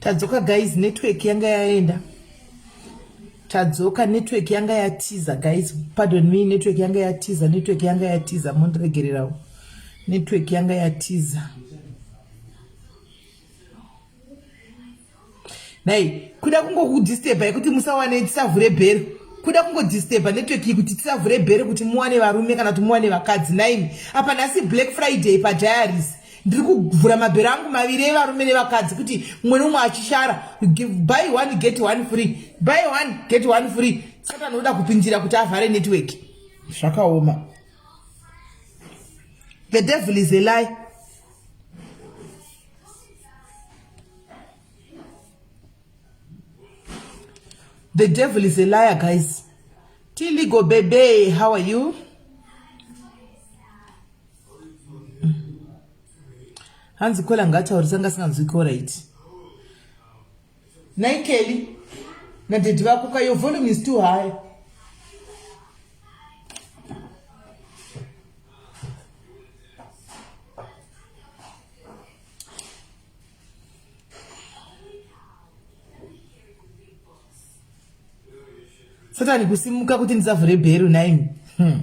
tadzoka guys network yanga yaenda tadzoka network yanga yatiza guys pardon me network yanga yatiza network yanga yatiza mondiregererawo network yanga yatiza nhai kuda kungokudisturba yekuti musawane tisavhure bhero kuda kungodisturba network iyi kuti tisavhure bhero kuti muwane varume kana kuti muwane vakadzi naimi apa nhasi black friday padiaries ndiri kuvhura mabhero angu maviri evarume nevakadzi kuti mumwe nomwe achishara buy one get one free buy one get one free saka anoda kupindira kuti avhare network zvakaoma the devil is a lie The devil is a liar, guys. Tiligo Bebe, how are you? hanzi kola ngaataurisa ngasinganzwi koraiti Nhai Kelly nadaddy vako ka your volume is too high. Satani kusimuka kuti ndisavhure bhero nhaimi. Hmm.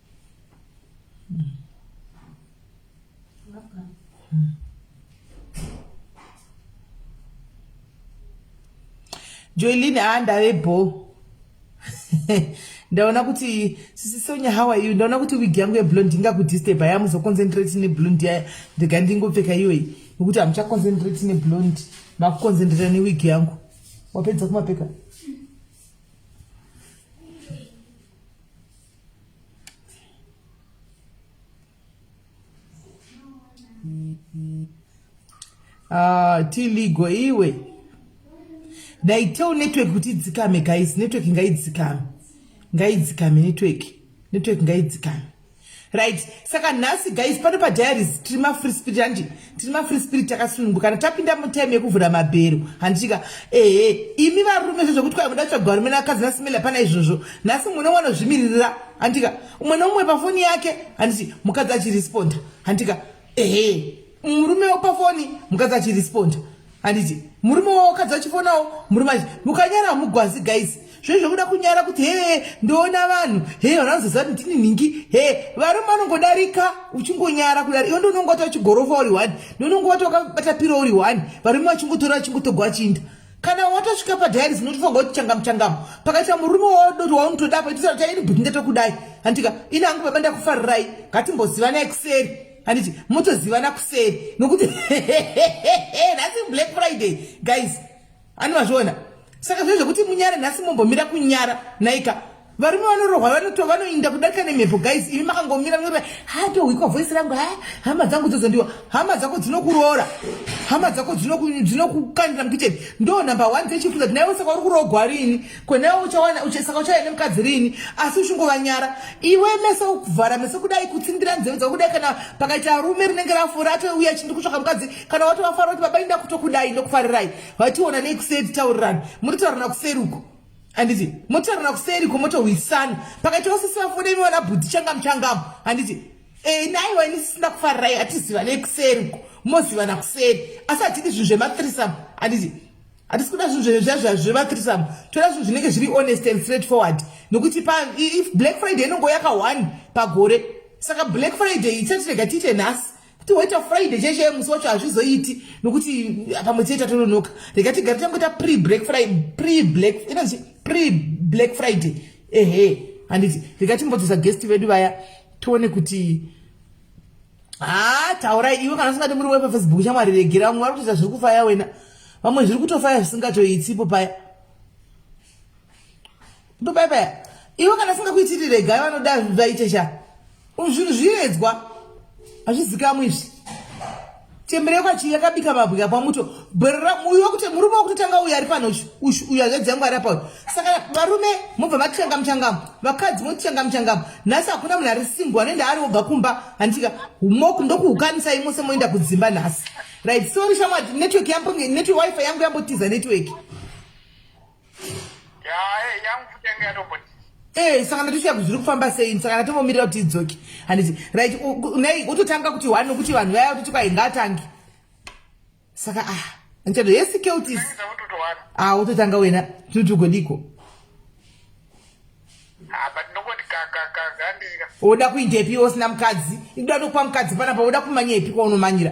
joelin haa ah, ndave bho ndaona kuti sisi sonya how are you ndaona kuti wig yangu yeblond ndingakudisturba ya muzoconcentrate neblond ya ndega ndingopfeka iyoyi nokuti hamuchaconcentrate neblond makuconcentrata newig yangu wapedza kumapeka Ah, tiligo iwe dai tell network kuti idzikame guys network ngaidzikame ngaidzikame network network ngaidzikame right saka nhasi guys pano padiaries tiri mafree spirit handi tiri mafree spirit takasunungu kana tapinda mutime yekuvhura mabhero handitika ehe imi varume zve zvekuti kwai muda kutsvaga varume nevakadzi nasimela pana izvozvo nhasi mumwe nomwe anozvimiririra handitika umwe nomumwe pafoni yake handiti mukadzi achiresponda handitika ehe murume wopa foni mukadzi achirespond handiti murume wawakadzi achifonawo murume achi mukanyara hamugwazi guys zve zvekuda kunyara kuti hee ndoona vanhu hee vanhu vanozoziva kuti ndini nhingi hee varume vanongodarika uchingonyara kudari iwe ndonongowata uchigorofa uri one ndonongowata wakabata piro uri one varume vachingotora vachingotogwa vachiinda kana watosvika padialis unotofunga kuti changamu changamu pakaita murume waodoti waunotoda apa itisara chaini but ndetokudai handika ini hangu baba ndakufarirai ngatimbozivanai kuseri handiti motozivana kuseri nokuti nhasi black friday guys ani mazviona saka zve zvekuti munyare nhasi mombomira kunyara naika varume vanorohwa vanoto vanoinda kudarika nemhepo guys imi makangomira mnaa hatohwikwa voice rangu ha hama dzangu dzozondiwa hama dzako dzinokuroora hama dzako dzinokukandira mukitchen ndo number one dzechifuza kuti naiwe saka uri kurogwa rini kwenaiwe uchawana saka uchauya nemukadzi rini asi uchingovanyara iwe meso ukuvhara meso kudai kutsindira nzeve dzako kudai kana pakaita rume rinenge rafura atouya chindi kutsvaka mukadzi kana watovafara kuti baba inda kutokudai ndokufarirai vationa nei kuseri taurirani muri taurirana kuseri uko handiti motaurana kuseri komotohwisana pakati osisi vafude imi vana bhudhi changamu changamu handiti e, naiwa ini sisina kufarirai hatizivane kuseri ko mozivana kuseri asi hatidi zvinhu zvematrisam handiti hatisi kuda zvinhu zvezvazva zvematrisam toda zvinhu zvinenge zviri honest and straight forward nokuti pa if black friday inongo yaka one pagore saka black friday ichatirega tiite nhasi kuti woita friday chaiye chaiye musi wacho hazvizoiti nokuti pamwe chete tatononoka rega tigare tangoita pre black friday pre black inonzi pre black friday ehe handiti rega timbodzosa guest vedu vaya tione kuti haa taurai iwe kana usingati muri wepa facebook chamwari regera vamwe vari kutoita zviri kufaya wena vamwe zviri kutofaya zvisingatoitsipo paya ndobayabaya iwe kana singakuitiri regai vanoda vaite sha zvinhu zviedzwa hazvizikamwi izvi chemberekwa chii yakabika mabwika pamuto uyo kuti murume wekutotanga uyo ari pano uyo hanzvadzi yangu ari apauyo saka varume mobva matichanga muchangamo vakadzi motichanga muchangamo nhasi hakuna munhu ari simbo anoenda ari obva kumba handitika moku ndokuhukanisai mose moenda kudzimba nhasi right sori shamwadi network yambo network wifi yangu yambotiza network Hey, eh, saka ndatichiya kuzviri kufamba sei saka ndatongomirira kuti idzoke handiti right nei utotanga kuti one nokuti vanhu vaya utoti kwai ngaatange saka ah ndichado yesi keutis ah utotanga wena tinoti ugodiko woda kuindepi usina mukadzi ikuda tokupa mukadzi panapa woda kumanyepi kwaonomanyira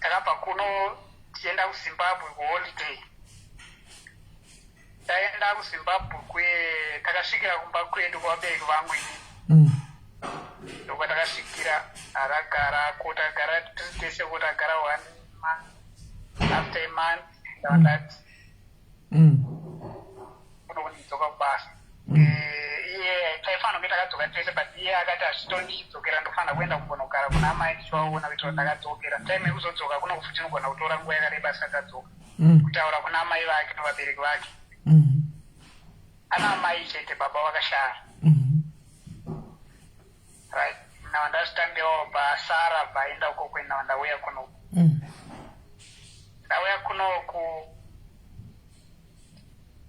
Takabva kuno tichienda kuZimbabwe kuholiday. Taenda kuZimbabwe kwe takasvikira kumba kwedu kwabereki vangu ini. Mm. Ndokwa takasvikira aragara ko tagara tese ko tagara one month after a month. Mm. mm. kunokudzidzoka kubasa mm. eh, iye taifanira kunge takadzoka tese but iye akati hazvitondidzokera ndofanira kuenda kumbonogara kuna amai ndichivaona kuitira kuti ndakadzokera time yekuzodzoka kunokufuti inogona kutora nguva yakareba asati adzoka mm. kutaura kuna amai vake nevabereki vake ana amai chete baba vakashara right now ndazitandewo basara bvaenda uko kuenda ndauya kunoku mm. ndauya kunoku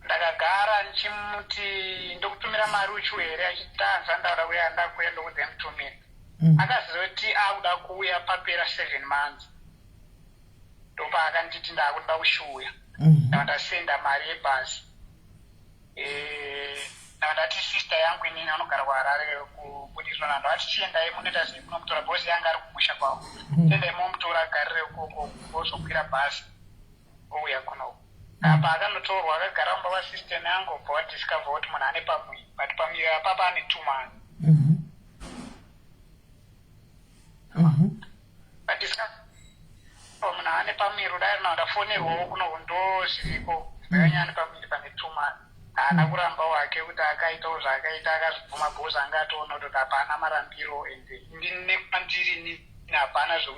ndakagara ndichimuti ndokutumira mari uchiu here achitanza ndaura kuya ndakuya ndokude mutumira mm. akaziva kuti akuda kuuya papera seven months ndopaakanditi ndakuda kushuuya mm. ndava ndasenda mari yebhazi ndati sister yangu inini anogara kuharare kubudiswa nando ati chiendai munoita sei munomutora bos yanga ari kumusha kwavo hmm. chiendai momutora agarire ukoko ozokwira bhasi ouya kunoko apa akanotorwa akagara mumba vasistem yangu obva wadiscover kuti munhu ane pamwe but pamwe apapa ane tumani mm -hmm. mm -hmm. ndisikaona ane pamiro dai rina ndafonerwawo kuno ndo zviriko ndakanyaya ane pamiri pane tuma haana mm. kuramba wake kuti akaitawo zvaakaita akazvibvuma bhos anga atoona kuti hapana marambiro ende ndine kwandiri hapana zvekuti